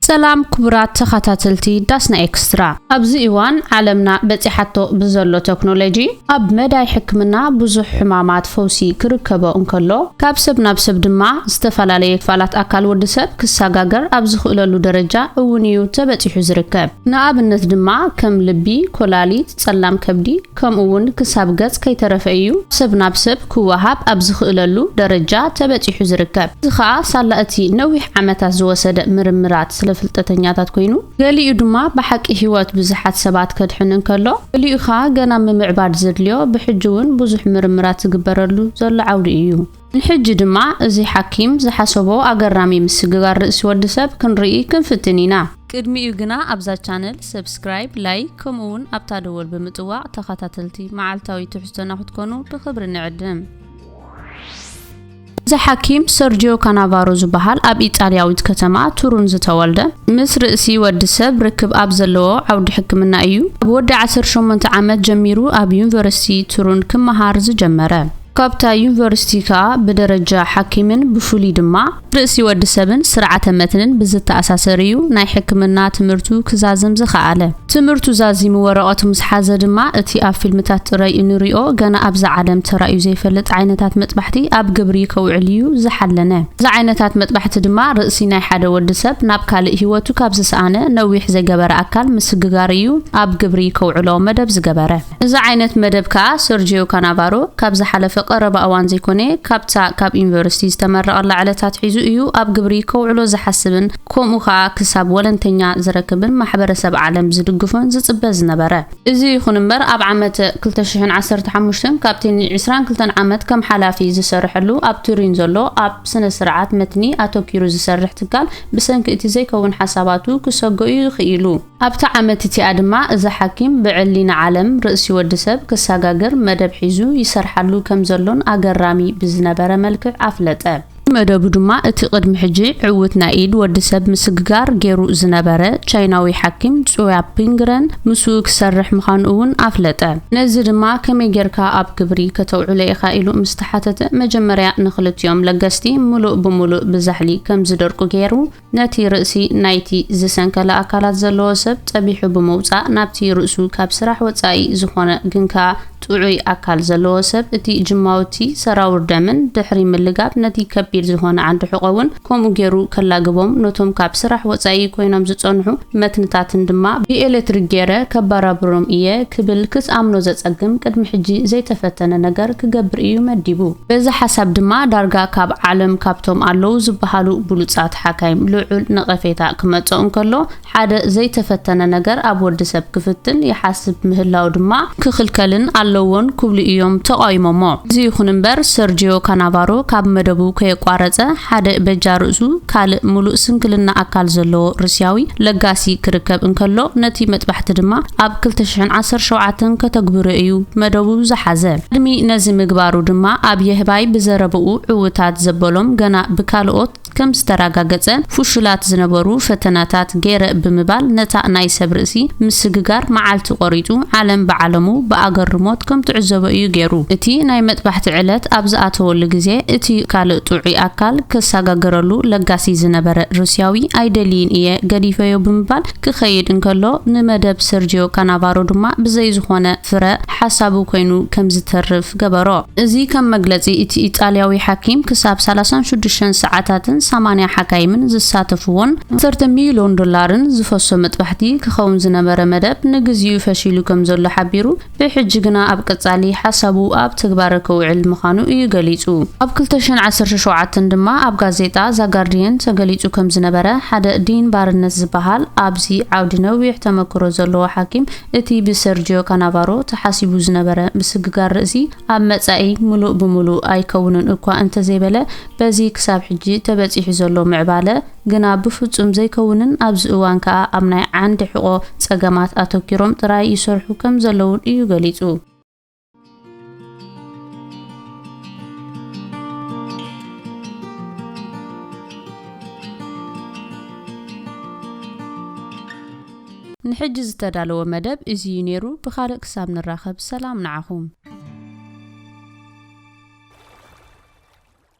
ሰላም ክቡራት ተኻታተልቲ ዳስና ኤክስትራ ኣብዚ እዋን ዓለምና በጺሓቶ ብዘሎ ተክኖሎጂ ኣብ መዳይ ሕክምና ብዙሕ ሕማማት ፈውሲ ክርከቦ እንከሎ ካብ ሰብ ናብ ሰብ ድማ ዝተፈላለየ ክፋላት ኣካል ወዲ ሰብ ክሰጋገር ኣብ ዝኽእለሉ ደረጃ እውን እዩ ተበጺሑ ዝርከብ ንኣብነት ድማ ከም ልቢ፣ ኮላሊት፣ ጸላም ከብዲ፣ ከምኡ'ውን ክሳብ ገጽ ከይተረፈ እዩ ሰብ ናብ ሰብ ክወሃብ ኣብ ዝኽእለሉ ደረጃ ተበጺሑ ዝርከብ። እዚ ኸኣ ሳላ እቲ ነዊሕ ዓመታት ዝወሰደ ምርምራት ስለ ፍልጠተኛታት ኰይኑ፣ ገሊኡ ድማ ብሓቂ ህይወት ብዙሓት ሰባት ከድሕን እንከሎ፣ ገሊኡ ኸኣ ገና ምምዕባል ዘድልዮ ብሕጂ'ውን ብዙሕ ምርምራት ዝግበረሉ ዘሎ ዓውዲ እዩ። ንሕጂ ድማ እዚ ሓኪም ዝሓሰቦ ኣገራሚ ምስግጋር ርእሲ ወዲ ሰብ ክንርኢ ክንፍትን ኢና። ቅድሚኡ ግና ኣብዛ ቻነል ሰብስክራይብ፣ ላይክ ከምኡ ውን ኣብታ ደወል ብምጥዋቕ ተኸታተልቲ መዓልታዊ ትሕዝቶና ክትኮኑ ብኽብሪ ንዕድም። እዚ ሓኪም ሰርጂዮ ካናቫሮ ዝበሃል ኣብ ኢጣልያዊት ከተማ ቱሩን ዝተወልደ ምስ ርእሲ ወዲ ሰብ ርክብ ኣብ ዘለዎ ዓውዲ ሕክምና እዩ ኣብ ወዲ ዓሰርተ ሸሞንተ ዓመት ጀሚሩ ኣብ ዩኒቨርሲቲ ቱሩን ክመሃር ዝጀመረ። ካብታ ዩኒቨርሲቲ ከኣ ብደረጃ ሓኪምን ብፍሉይ ድማ ርእሲ ወዲ ሰብን ስርዓተ መትንን ብዝተኣሳሰር እዩ ናይ ሕክምና ትምህርቱ ክዛዝም ዝኸኣለ። ትምህርቱ ዛዚሙ ወረቐቱ ምስ ሓዘ ድማ እቲ ኣብ ፊልምታት ጥራይ እንሪኦ ገና ኣብዛ ዓለም ተራእዩ ዘይፈልጥ ዓይነታት መጥባሕቲ ኣብ ግብሪ ከውዕል እዩ ዝሓለነ። እዚ ዓይነታት መጥባሕቲ ድማ ርእሲ ናይ ሓደ ወዲ ሰብ ናብ ካልእ ህይወቱ ካብ ዝሰኣነ ነዊሕ ዘይገበረ ኣካል ምስግጋር እዩ ኣብ ግብሪ ከውዕሎ መደብ ዝገበረ። እዚ ዓይነት መደብ ከኣ ሰርጂዮ ካናቫሮ ካብ ዝሓለፈ ቀረባ እዋን ዘይኮነ ካብታ ካብ ዩኒቨርሲቲ ዝተመረቐላ ዕለት ኣትሒዙ እዩ ኣብ ግብሪ ከውዕሎ ዝሓስብን ከምኡ ከኣ ክሳብ ወለንተኛ ዝረክብን ማሕበረሰብ ዓለም ዝድግፎን ዝጽበ ዝነበረ። እዚ ይኹን እምበር ኣብ ዓመት ክልተ ሽሕን ዓሰርተ ሓሙሽተን ካብቲ ን ዕስራን ክልተን ዓመት ከም ሓላፊ ዝሰርሐሉ ኣብ ቱሪን ዘሎ ኣብ ስነ ስርዓት መትኒ ኣተኲሩ ዝሰርሕ ትካል ብሰንኪ እቲ ዘይከውን ሓሳባቱ ክሰጎ እዩ ኽኢሉ። ኣብታ ዓመት እቲኣ ድማ እዚ ሓኪም ብዕሊ ንዓለም ርእሲ ወዲ ሰብ ክሰጋግር መደብ ሒዙ ይሰርሓሉ ከም ዘሎን ኣገራሚ ብዝነበረ መልክዕ ኣፍለጠ። መደቡ ድማ እቲ ቅድሚ ሕጂ ዕውት ናይ ኢድ ወዲ ሰብ ምስግጋር ገይሩ ዝነበረ ቻይናዊ ሓኪም ጹያ ፒንግረን ምስኡ ክሰርሕ ምዃኑ እውን ኣፍለጠ። ነዚ ድማ ከመይ ጌርካ ኣብ ግብሪ ከተውዕሎ ኢኻ ኢሉ ምስ ተሓተተ መጀመርያ ንኽልቲኦም ለገስቲ ምሉእ ብምሉእ ብዛሕሊ ከም ዝደርቁ ገይሩ፣ ነቲ ርእሲ ናይቲ ዝሰንከለ ኣካላት ዘለዎ ሰብ ጸቢሑ ብምውጻእ ናብቲ ርእሱ ካብ ስራሕ ወጻኢ ዝኾነ ግን ከኣ ጥዑይ ኣካል ዘለዎ ሰብ እቲ ጅማውቲ ሰራውር ደምን ድሕሪ ምልጋብ ነቲ ከቢድ ዝኾነ ዓንዲ ሕቆ'ውን ከምኡ ጌሩ ከላግቦም ነቶም ካብ ስራሕ ወጻኢ ኮይኖም ዝጸንሑ መትንታትን ድማ ብኤሌትሪክ ጌረ ከባራብሮም ኢየ ክብል ክስኣምኖ ዘጸግም ቅድሚ ሕጂ ዘይተፈተነ ነገር ክገብር ኢዩ መዲቡ። በዚ ሓሳብ ድማ ዳርጋ ካብ ዓለም ካብቶም ኣለዉ ዝበሃሉ ብሉጻት ሓካይም ልዑል ነቐፌታ ክመጾ እንከሎ፣ ሓደ ዘይተፈተነ ነገር ኣብ ወድሰብ ክፍትን ይሓስብ ምህላዉ ድማ ክኽልከልን ኣለዎን ክብሉ ኢዮም ተቓዊሞሞ። እዚ ይኹን እምበር ሰርጂዮ ካናቫሮ ካብ መደቡ ከየቋረጸ ሓደ በጃ ርእሱ ካልእ ምሉእ ስንክልና ኣካል ዘለዎ ሩስያዊ ለጋሲ ክርከብ እንከሎ ነቲ መጥባሕቲ ድማ ኣብ ክልተ ሽሕን ዓሰርተ ሸውዓተን ከተግብሮ ኢዩ መደቡ ዝሓዘ። ቅድሚ ነዚ ምግባሩ ድማ ኣብ የህባይ ብዘረብኡ ዕውታት ዘበሎም ገና ብካልኦት ከም ዝተራጋገጸ ፍሹላት ዝነበሩ ፈተናታት ገይረ ብምባል ነታ ናይ ሰብ ርእሲ ምስግጋር መዓልቲ ቆሪጹ ዓለም ብዓለሙ ብኣገርሞት ከም ትዕዘቦ እዩ ገይሩ። እቲ ናይ መጥባሕቲ ዕለት ኣብ ዝኣተወሉ ግዜ እቲ ካልእ ጥዑይ ኣካል ከሳጋግረሉ ለጋሲ ዝነበረ ሩስያዊ ኣይደልይን እየ ገዲፈዮ ብምባል ክኸይድ እንከሎ ንመደብ ሰርጂዮ ካናቫሮ ድማ ብዘይ ዝኾነ ፍረ ሓሳቡ ኮይኑ ከም ዝተርፍ ገበሮ። እዚ ከም መግለጺ እቲ ኢጣልያዊ ሓኪም ክሳብ ሳላሳን ሽዱሽተን ሰዓታትን ሰማንያ ሓካይምን ዝሳተፍዎን ዓሰርተ ሚልዮን ዶላርን ዝፈሶ መጥባሕቲ ክኸውን ዝነበረ መደብ ንግዚኡ ፈሺሉ ከም ዘሎ ሓቢሩ። ብሕጂ ግና ኣብ ቀጻሊ ሓሳቡ ኣብ ተግባረ ከውዕል ምኻኑ እዩ ገሊጹ። ኣብ ክልተ ሽሕን ዓሰርተ ሸውዓተን ድማ ኣብ ጋዜጣ ዛጋርድየን ተገሊጹ ከም ዝነበረ ሓደ ዲን ባርነት ዝበሃል ኣብዚ ዓውዲ ነዊሕ ተመክሮ ዘለዎ ሓኪም እቲ ብሰርጂዮ ካናቫሮ ተሓሲቡ ዝነበረ ምስግጋር ርእሲ ኣብ መጻኢ ምሉእ ብምሉእ ኣይከውንን እኳ እንተዘይበለ በዚ ክሳብ ሕጂ ተበጺሑ ዘሎ ምዕባለ ግና ብፍጹም ዘይከውንን ኣብዚ እዋን ከኣ ኣብ ናይ ዓንዲ ሕቖ ጸገማት ኣተኲሮም ጥራይ ይሰርሑ ከም ዘለዉን እዩ ገሊጹ። ንሕጂ ዝተዳለወ መደብ እዚ እዩ ነይሩ ብኻልእ ክሳብ ንራኸብ ሰላም ንዓኹም።